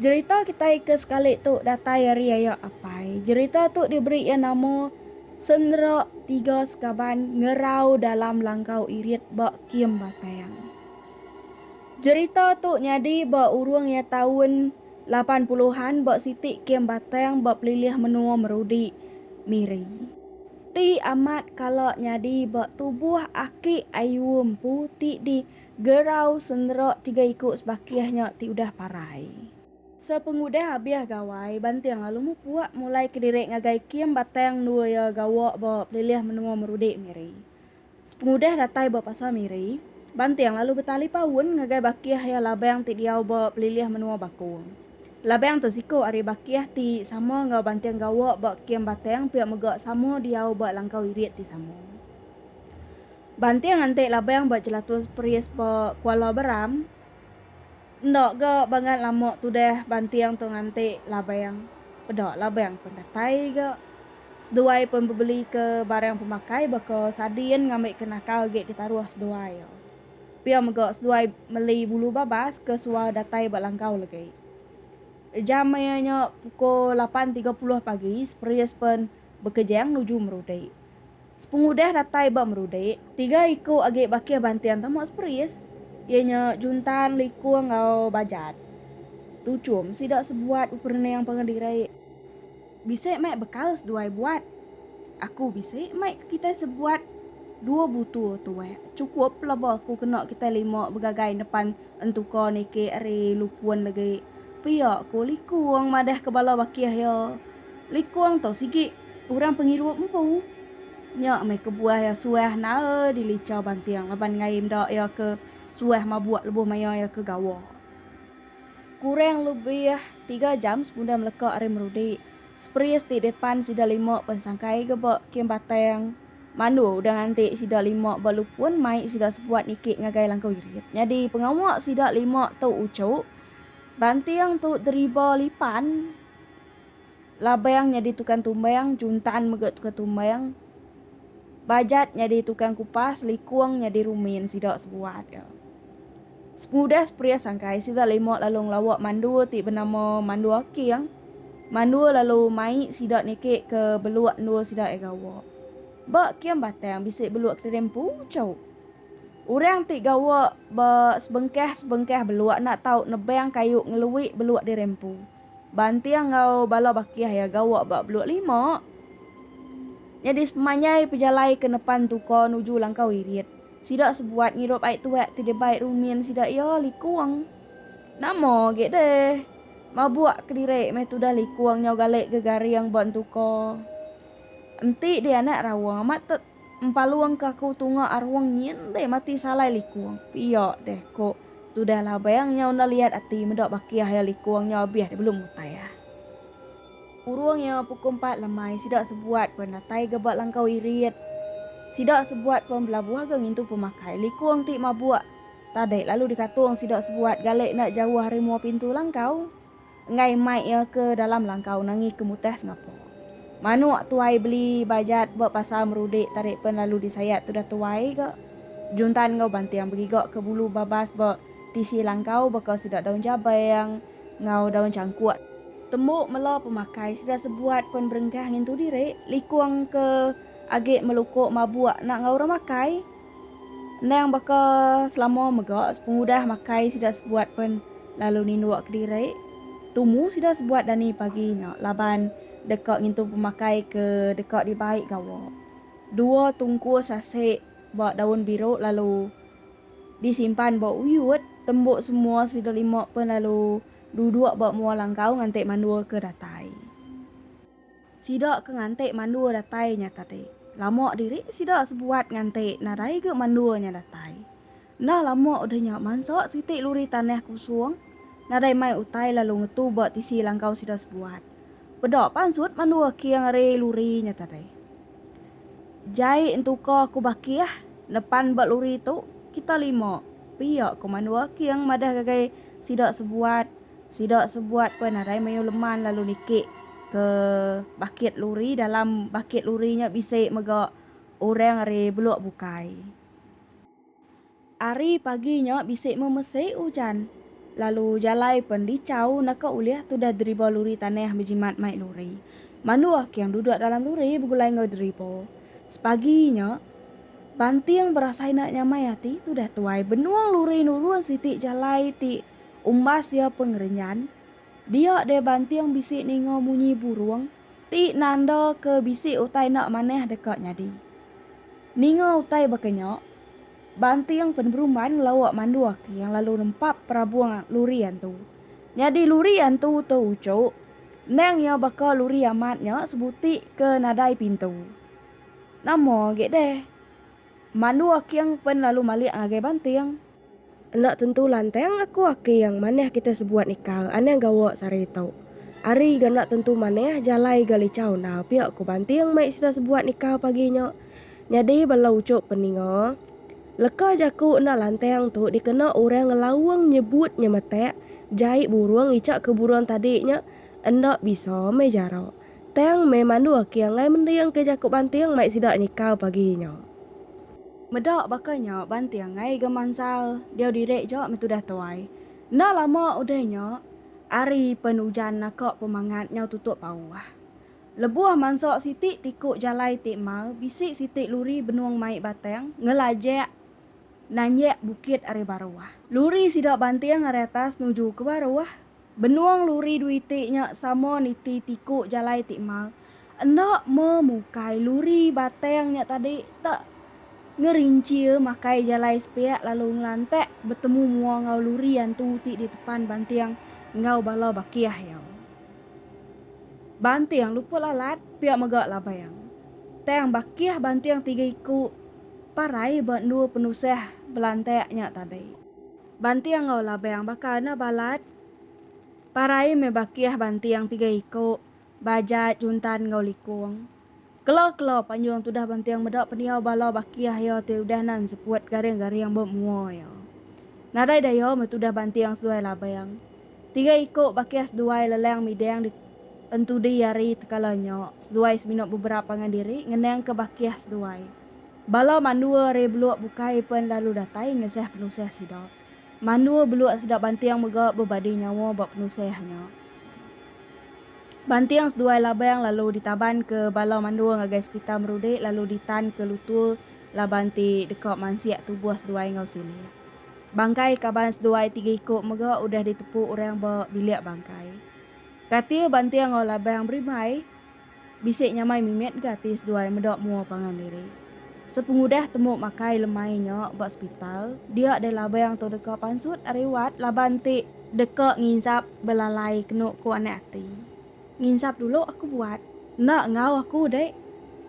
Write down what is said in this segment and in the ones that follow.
Jerita kitai ke sekali tu datai ari aya apai. Jerita tu diberi iya nama Sendera Tiga Sekaban Ngerau Dalam Langkau Irit ba Kem Batang. Jerita tu nyadi ba urung iya taun lapan puluhan ba siti Kem Batang ba pelilih menua Merudi, Miri. Ti amat kala nyadi ba tubuh aki ayu empu ti di Gerau senderok tiga iku sebakih nya ti udah parai. Sepengudah abih gawai, Banting lalu mupuak mulai kediri ngagai Kim Batang endua iya gawa ba pelilih menua Merudi, Miri. Sepengudah datai ba pasar Miri, Banting lalu betali paun ngagai bakih iya Labang ti diau ba pelilih menua Bakong. Labang tu siku ari bakih ti sama enggau Banting gawa ba Kim Batang pia mega sama diau ba langkau irit ti sama. Banting anti labang ba Jelatus Peris ba Kuala Beram enda ga bangat lama tudah banting tu nganti labang peda labang pen datai ga. Seduai pen bebeli ke barang pemakai baka sadin ngambi ke nakal agi ditaruh seduai. Pia mega seduai meli bulu babas ke suah datai ba langkau legi. Jam maya nya pukul lapan tiga puluh pagi Peris pen bekejang nuju Merudi. Sepengudah datai ba Merudik, tiga iku agi bakih banting tama Seperis, iya nya Juntan, Likung enggau Bajat. Tu chum sida sebuat beperening pangan diri. Bisi mai bekal seduai buat. Aku bisi mai ke kitai sebuat dua butu tuek chukup pelaba aku kena kitai lima begagai nepan entuka niki ari Lupun legi, pia ku Likung madahka bala bakih iya. Likung tu sigi orang pengirup empu. Nya meh kebuah iya suah nae dilicha banting laban ngai enda iya ke suah mabuk lebuh maya iya ke gawa. Kurang lebih tiga jam sekunda meleka ari Merudi, Spris ti depan sida lima pensangkai ke ba Kem Batang Mandu udah nganti sida lima ba Lupun mai sida sebuat niki ngagai langkau irit. Nyadi pengawa sida lima tu uchu, banting tu deriba lipan. Labang nyadi tukang tumbang, Juntan mega tukang tumbang, Bajat nyadi tukang kupas, Likung nyadi rumin sida sebuat iya. Sepengudah seperis angkai sida lima lalu ngelawa mandul ti benama Mandul Aking. Mandul lalu mai sida niki ke beluk endul sida iya gawa. Ba kem batang bisi beluk kediring empu chau. Orang ti gawa ba sebengkah-sebengkah beluk enda tau nebang kayu ngelui beluk diring empu. Banting enggau bala bakih iya gawa ba Beluk Lima nyadi sepemanjai pejalai ke nepan Tuka nuju Langkau Irit. Sida sebuat ngirup ai tuak ti dibai rumin sida iya Likung. Nama agi deh mabuk kediri meh tudah Likung nyau gali gegaring ba Entuka. Enti dianak raung amat Empalungka aku tunga arung nyin deh mati salai likung. Pia deh ko tudah labang nya enda liat ati meda bakih iya likung nya abih deh belum utai ah. Urung iya pukul empat lemai sida sebuat pen datai ga ba langkau irit. Sida sebuat pen belabuh ga ngintu pemakai likung ti mabuk tadi lalu dikatung sida sebuat gale enda jauh ari mua pintu langkau. enggai mai iya ke dalam langkau nangi ke mutah sengapa. Manuk tuai beli bajat ba pasar merudik tarik pen lalu disayat tudah tuai ga juntan enggau banting begiga ke bulu babas ba tisi langkau baka sida daun jabang enggau daun changkuk. Tembu mela pemakai sida sebuat pen berengkah ngintu diri likung ke agi melukuk mabuk enda enggau orang makai. Endang baka selama mega pengudah makai sida sebuat pen lalu ninduk kediri tumu sida sebuat dani pagi nya laban deka ngintu pemakai ke deka dibai gawa. Dua tungkus asi ba daun biru lalu disimpan ba uyut tembu semua sida lima pen lalu duduk ba mua langkau nganti mandul ke datai. Sida ke nganti mandua datai nya tadi, lama diri sida sebuat nganti nadai ga mandua nya datai. Enda lama udah nya mansa siti luri tanah kosong nadai mai utai lalu ngetu ba tisi langkau sida sebuat. Peda pansut mandua king ari luri nya tadi. Jai entuka ku Bakih, nepan ba luri tu kita lima, pia ku mandua king madah gagai sida sebuat Sida sebuat pun arai mayuh leman lalu niki ke bakit luri dalam bakit luri nya bisi mega orang ari beluk bukai. Ari pagi nya bisi memesi ujan lalu jalai pun dichau naka ulih tudah deriba luri tanah bejimat mai luri. Manduh king duduk dalam luri begulai enggau deriba. Sepagi nya Banting berasai enda nyamai ati tudah tuai benung luri nurun siti jalai ti Umbas iya pengerenyan, dia deh banting bisi ninga munyi burung ti nanda ke bisi utai enda manah deka nyadi. Ninga utai baka nya, banting peneberumban ngelawa mandu aking lalu nempap perabung luri antu. Nyadi luri antu tu uchuk, endang iya baka luri amat nya sebuti ke nadai pintu. Nama agi deh, mandu aking pen lalu malik ngagai banting. Enda tentu lantang aku aking manah kita sebuat nikah anang gawa sehari tu. Ari ga enda tentu manah jalai ga lichau enda pia ku Banting mai sida sebuat nikah pagi nya. Nyadi bala uchup peninga, leka jaku enda lantang tu dikena orang ngelaung nyebut nyemetak jai burung icha ke burung tadi nya enda bisa meh jarak. Tang meh mandu aki anggai mending ke jaku banting mai sida nikau pagi nya. Meda baka nya banting anggai ga mansal diau diri ja meh tudah tuai. Enda lama udah nya ari pen ujan naka pemangat nyau tutup pauh. Lebuh mansa siti tiku jalai ti emau bisi siti luri benung mai batang ngelajak nanjak bukit ari baruh. Luri sida banting ari atas nuju ke baruh. Benung luri dui ti nya sama niti tiku jalai ti mal. Enda me mukai luri batang nya tadi tak ngerincia makai jalai sepiak lalu ngelantak betemu mua enggau luri antu ti ditepan banting enggau bala bakih iya. Banting luput lalat pia mega labang. Tang bakih banting tiga iku parai ba endur penusah belantak nya tadi. Banting enggau labang baka anak balat. Parai meh bakih banting tiga iku, Bajat, Juntan enggau Likung. Kelo-kelo panjung tudah banting meda pendiau bala bakih iya ti udah nan seput garing-garing ba mua iya. Nadai daya meh tudah banting seduai labang. Tiga iku bakih seduai lelang midang di entudi ari tekala nya seduai semina beberap pangan diri ngenangka bakih seduai. Bala mandua ari Beluk bukai pen lalu datai ngesah penusah sida. Mandua Beluk sida Banting mega bebadi nyawa ba penusah nya. Banting seduai Labang lalu ditaban ke bala mandua ngagai sepital Merudik lalu ditan ke Lutur laban ti deka mansik tubuh seduai enggau silik. Bangkai kaban seduai tiga iku mega udah ditepu orang ba bilik bangkai. Katil Banting enggau Labang berimbai. Bisi nyamai mimit ga ti seduai meda mua pangan diri. Sepengudah temu makai lemai nya ba sepital, dia deh labang tu deka pansut ari wad laban ti. Deka nginsap belalai kenu ku anak ati. Nginsap dulu aku buat. Enda enggau aku deh.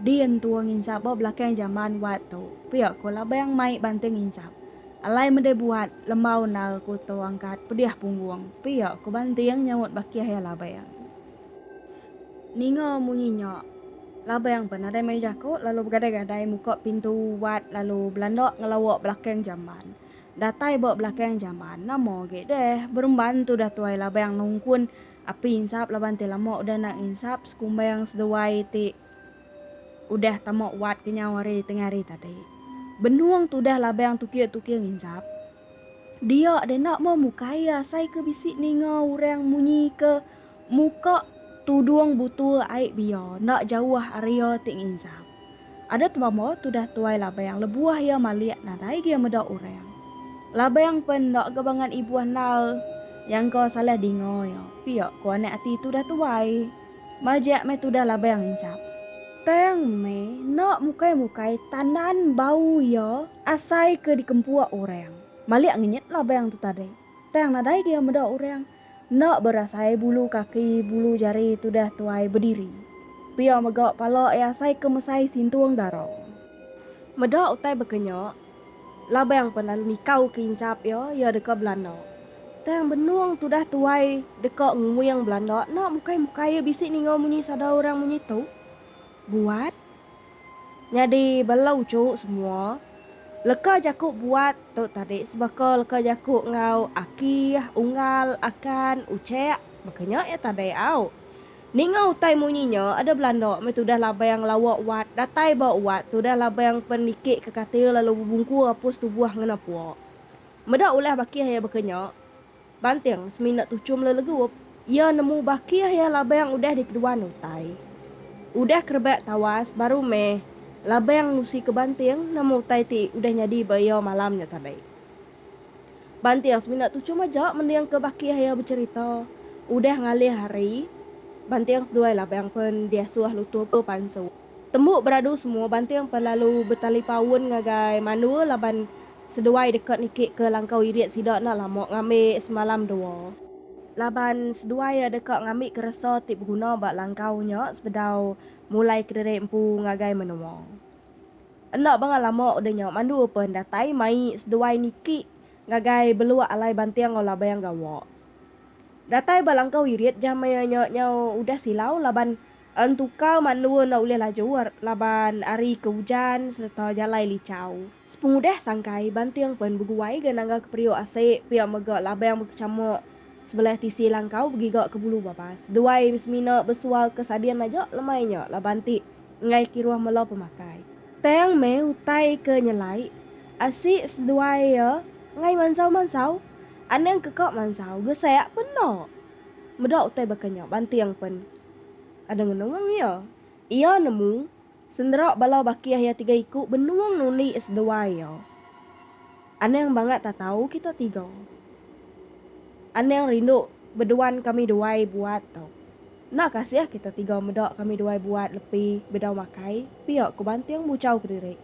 Din tua nginsap ba belakang jamban wad tu, pia ku labang mai banting nginsap. Alai meda buat, lembau endar ku tu angkat pedih punggung, pia ku banting nyaut bakih iya labang. Ninga munyi nya, Labang pan nadai mayuh jaku lalu begadai-gadai muka pintu wat lalu belanda ngelawa belakang jamban. Datai ba belakang jamban, nama agi deh beremban tudah tuai Labang nungkun api insap laban ti lama udah enda nginsap sekumbang seduai ti udah tama wat kenyau hari tengah hari tadi. Benung tudah Labang tukir-tukir nginsap, dia deh enda meh mukai iya asai ke bisi ninga orang munyi ke. Muka tudung butul ai bia enda jauh ari iya ti nginjam. Ada temama tudah tuai Labang lebuh iya malik nadai gia meda orang. Labang pen enda ga bangan ibuh endar iya engka salah dinga iya pia ku anak ati tudah tuai. Majak meh tudah Labang nginjam. Tang meh enda mukai-mukai tandan bau iya asai ke dikempuk orang. Malik ngenyit Labang tu tadi. Tang nadai gia meda orang. Enda berasai bulu kaki bulu jari tudah tuai bediri. Pia mega pala iya asai ke mesai sintung dara. Meda utai baka nya, Labang pan lalu nikau ke insap iya, iya deka belanda. Tang benung tudah tuai deka nguing belanda enda mukai-mukai iya bisi ninga munyi sada orang munyi tu. Buat. Nyadi bela uchu semua. Leka jaku buat tu tadi sebaka leka jaku enggau aki, unggal, akan, uchek baka nya iya tadi au. Ninga utai munyi nya ada belanda meh tudah labang lawa wat datai ba wat tudah labang pen niki ke katil lalu bebungkur apus tubuh ngena pua. Meda ulah bakih iya baka nya. Banting, semina tuchum le legup, iya nemu bakih iya labang udah dikeduan utai. Udah ke rebak tawas baru meh labang nusi ke banting nama utai ti udah nyadi ba iya malam nya tadi. Banting semina tuchum aja mending ke bakih iya becherita. Udah ngalih hari, banting seduai labang pen diasuh lutur ke pansu. Tembu beradu semua banting pen lalu betalipaun ngagai mandul laban Seduai deka niki ke langkau irit sida enda lama ngambi semalam dua. Laban seduai deka ngambi keresa ti beguna ba langkau nya sebedau mulai kediri empu ngagai menua. Enda bangah lama udah nya mandu pen datai mai seduai niki ngagai beluk alai banting enggau labang gawa. Datai ba langkau irit jam maya nya nyau udah silau laban Entukau mandua enda ulih laju laban ari ke ujan sereta jalai lichau. Sepengudah sangkai, Banting pen beguai ga nanggalka periuk asi pia mega labang bekechamuk sebelah tisi langkau begiga ke Bulu Babas. Duai semina besualka Sadin aja lemai nya laban ti enggai kiruh mela pemakai. Tang meh utai ke nyelai asi seduai iya enggai mansau-mansau. Anang ke ka mansau gesak pen enda. Meda utai baka nya Banting pen ada ngenung iya. Iya nemu sendera bala bakih iya tiga iku benung nundi seduai iya. Anang bangat tatau kita tiga. Anang rindu beduan kami duai buat tu. Enda kasih kita tiga meda kami duai buat lepi bedau makai pia ku Banting buchau kediri.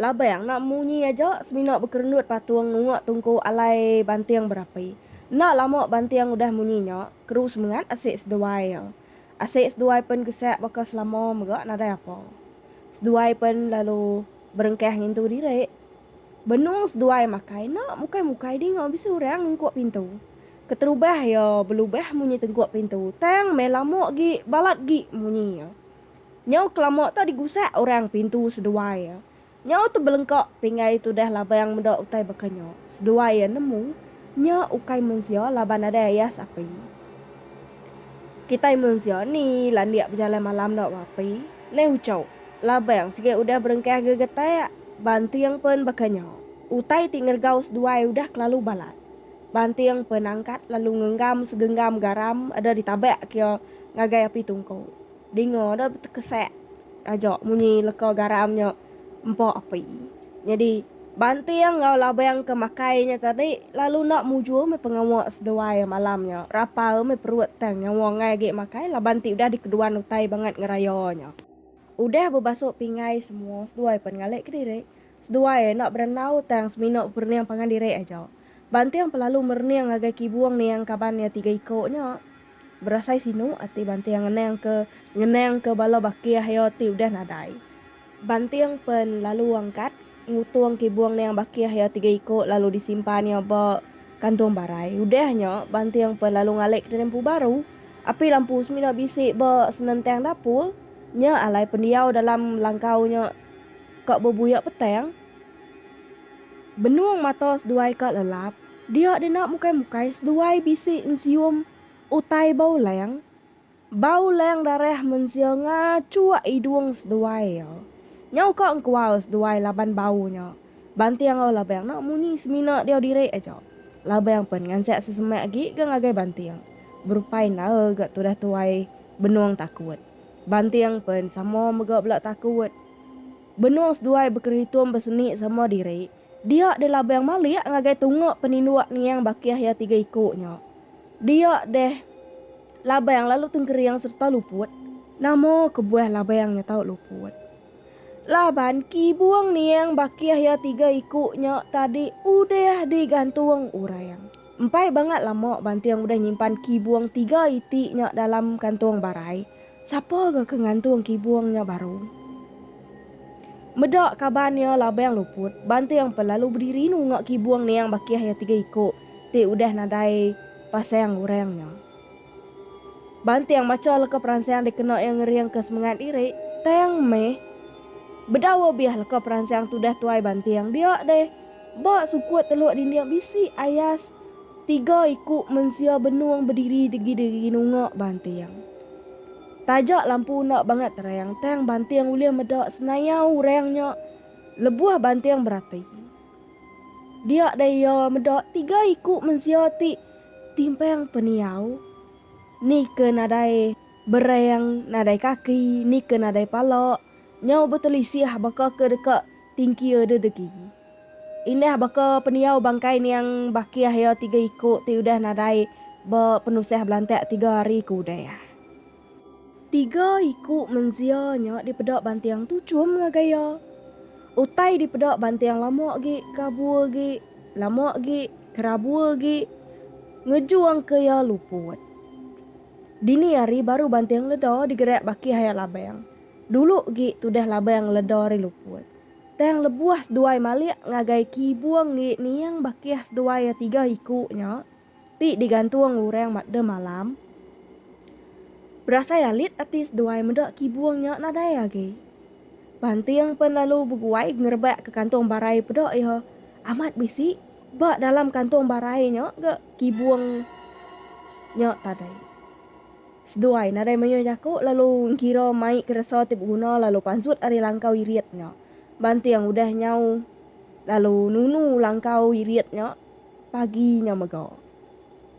Labang enda munyi aja semina bekerendut patung nunga tungku alai banting berapi. Enda lama banting udah munyi nya, keru semengat asik seduai iya. Asik seduai pen gesak baka selama mega nadai apa. Seduai pen lalu berengkah ngintu diri. Benung seduai makai enda mukai-mukai dinga bisi orang ngungkuk pintu. Keterubah iya belubah munyi tengkuk pintu tang meh lama agi balat agi munyi iya. Nyau kelama tu digusak orang pintu seduai iya. Nyau tu belengka pinggai tudah labang meda utai baka nya. Seduai iya nemu, nya ukai mensia laban nadai ayas api. Kitai mensia ni landik bejalai malam enda ba api. Neh uchau, labang sigat udah berengkah gegetak, banting pen baka nya. Utai ti ngeregau seduai udah kelalu balat. Banting pen angkat lalu ngenggam segenggam garam ada ditabak ke iya ngagai api tungku. Dinga deh betekesak aja munyi leka garam nya empa api. Nyadi, Banting enggau Labang ke makai nya tadi lalu enda mujur meh pengawa seduai malam nya. Rapal meh perut tang nyawa enggai agi makai laban ti udah dikeduan utai bangat ngeraya nya. Udah bebasuh pinggai semua, seduai pan ngalik kediri. Seduai enda berenau tang semina beperening pangan diri aja. Banting pelalu merening ngagai Kibung niang kaban iya tiga iko nya. Berasai sinu ati Banting ngenang ke ngenang ke bala bakih iya ti udah nadai. Banting pen lalu angkat ngutung Kibung niang bakih iya tiga iko lalu di simpan iya ba kantung barai. Udah nya Banting pen lalu ngalik ke lempu baru. Api lampu semina bisi ba senentang dapur. Nya alai pendiau dalam langkau nya ka bebuyak petang. Benung mata seduai ka lelap, dia dina mukai-mukai seduai bisi ensium utai bau lang. Bau lang darah mensia ngachuk idung seduai iya. Nyau ka engkual seduai laban bau nya. Banting enggau Labang enda munyi semina diau diri aja. Labang pen ngansik sesemak agi ga ngagai Banting. Berupai enda ga tudah tuai Benung takut. Banting pen sama mega bela takut. Benung seduai bekerehitung beseni sama diri, dia deh labang malik ngagai tunga peninduk niang bakih iya tiga iku nya. Dia deh labang lalu tengkering sereta luput. Nama kebuah labang nya tau luput? Laban kibung niang bakih iya tiga iku nya tadi udah digantung orang. Empai bangat lama Banting udah nyimpan kibung tiga iti nya dalam kantung barai, sapa ga ke ngantung kibung nya baru? Meda kaban iya Labang luput, Banting pe lalu bediri nunga kibung niang bakih iya tiga iku ti udah nadai pasang orang nya. Banting macha leka peransang dikena iya ngeringka semengat diri, tang meh bedau obih leka peransang tudah tuai Banting dia deh. Ba sukut teluk dinding bisi ayas tiga iku mensia benung bediri degi-degi nunga Banting. Taja lampu enda bangat terang, tang Banting ulih meda senayau orang nya lebuh Banting berati. Dia deh iya meda tiga iku mensia ti. Timpang pendiau, ni ke nadai bereng, nadai kaki, ni ke nadai pala, nyau betelisih baka ke deka tingkia dedegi. Indah baka pendiau bangkai niang bakih iya tiga iku ti udah nadai ba penusah belantak tiga hari ke udah. Tiga iku mensia nya dipeda banting tu chum ngagai iya. Utai dipeda banting lama agi kabur agi, lama agi kerabur agi ngejungka iya luput. Dini hari baru banting leda digerak baki haya labang. Dulu agi tudah labang leda ri luput. Tang lebuh seduai malik ngagai kibung agi niang bakih seduai iya tiga iku nya, ti digantung orang makdem alam, berasai alit ati seduai meda kibung nya nadai agi. Banting pen lalu beguai ngerebak ke kantung barai peda iya amat bisi ba dalam kantung barai nya ga kibung nya tadai. Seduai nadai mayuh jaku lalu engkira mai keresa ti beguna lalu pansut ari langkau irit nya. Banting udah nyau lalu nunu langkau irit nya. pagi nya mega.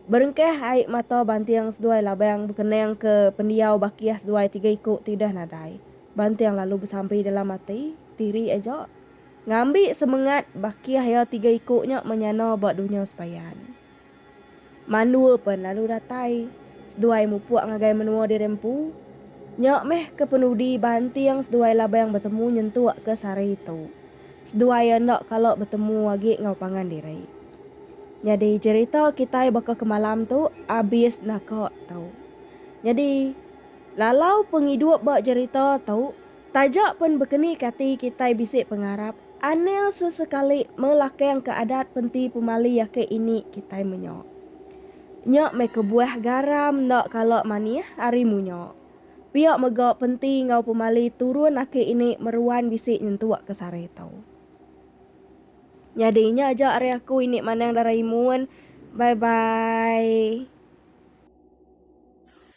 Berengkah ai mata banting seduai labang bekenangka pendiau bakih seduai tiga iku ti udah nadai. Banting lalu besampi dalam ati diri aja ngambi semengat bakih iya tiga iku nya menyana ba dunya sebayan. Mandua pen lalu datai seduai mupuk ngagai menua diri empu. Nya meh ke penudi banting seduai Labang betemu nyentuk ke sehari tu. Seduai enda kala betemu agi enggau pangan diri. Nyadi jerita kitai baka ke malam tu abis naka tu. Nyadi lalau pengidup ba jerita tu. Taja pen bekeni kati kitai bisi pengarap, anil sesekali melakangka adat penti pemali ake ini kitai menyo. Nya meh kebuah garam enda kala manih ari munyo. Pia mega penti enggau pemali turun ake ini meruan bisi nyentuk ke sari tu. Nyadi nya aja ari aku ini Manang Daraimon. Bye bye.